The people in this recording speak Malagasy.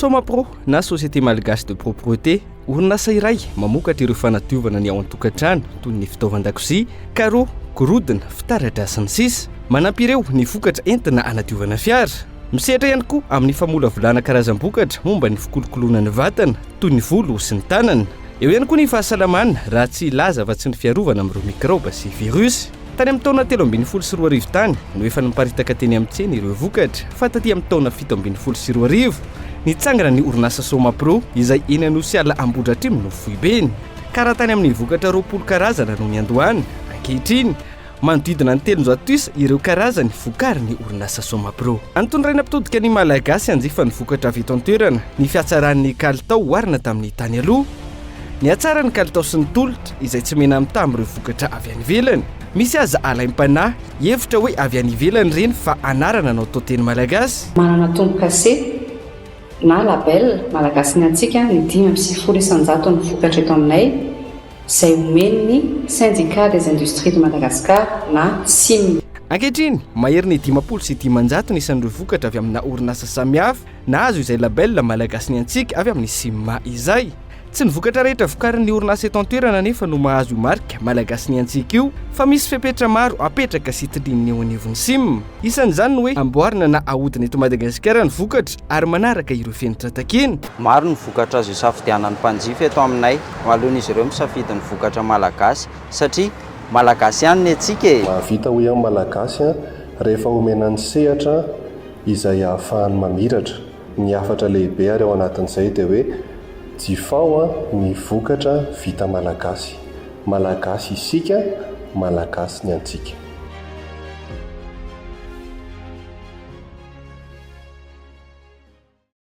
Somapro na Société Malgache de Propreté, orinasa iray mamokatra ireo fanadiovana ny ao an-tokantrano toy ny fitaovan-dakozia, carreaux, gorodona, fitaratra sy ny sisa. Manampy ireo ny vokatra entina hanadiovana fiara. Misehatra ihany koa amin'ny famolavolana karazam-bokatra momba ny fikolokoloana ny vatana, toy ny volo sy ny tanana. Eo ihany koa ny fahasalamana, raha tsy hilaza afa-tsy ny fiarovana amin'ireo mikraoba sy virus. Tany amin'ny taona telo ambin'ny folo sy roa arivo tany no efa niparitaka teny amin'ny tsena ireo vokatra, fa taty amin'ny taona fito ambin'ny folo sy roa arivo, nitsangana ny orinasa Somapro, izay eny Anosiala Ambohidratrimo no foibeny. Ka raha tany amin'ny vokatra roapolo karazana no niandohana, ankehitriny, Manodidina ny telonjato isa ireo karazany vokarin'ny orinasa Somapro. Anton'irena mpitodika ny Malagasy hanjifa ny vokatra avy eto an-toerana ny fihatsaran'ny kalitao oharina tamin'ny tany aloha. Nihatsara ny kalitao sy ny tolotra izay tsy mena-mitaha amin'ireo vokatra avy any ivelany. Misy aza alaim-panahy hevitra hoe avy any ivelany ireny fa anarana no atao teny malagasy. Manana tombo-kase na label Malagasy ny antsika ny dimy amby sivifolo isan-jaton'ny vokatra eto aminay. izay omen'ny Syndicat des Industries de Madagascar na Sim. Ankehitriny, mahery ny dimampolo sy dimanjato ny isan'ireo vokatra avy amina orinasa samihafa nahazo izay label Malagasy ny antsika avy amin'ny Sim izay. Tsy ny vokatra rehetra vokarin'ny orinasa eto an-toerana anefa no mahazo io marika Malagasy ny antsika io fa misy fepetra maro apetraka sy tilian'ny eo anivon'ny Sim. Isan'izany ny hoe amboarina na ahodina eto Madagasikara ny vokatra ary manaraka ireo fenitra takina. Maro ny vokatra azo isafidianan'ny mpanjifa eto aminay Alohan'izy ireo misafidy ny vokatra malagasy satria malagasy ihany ny antsika e! Mahavita hoy aho ny Malagasy an, rehefa omena ny sehatra izay ahafahany mamiratra. Ny hafatra lehibe ary ao anatin'izay dia hoe jifao an ny vokatra vita malagasy. Malagasy isika, malagasy ny antsika.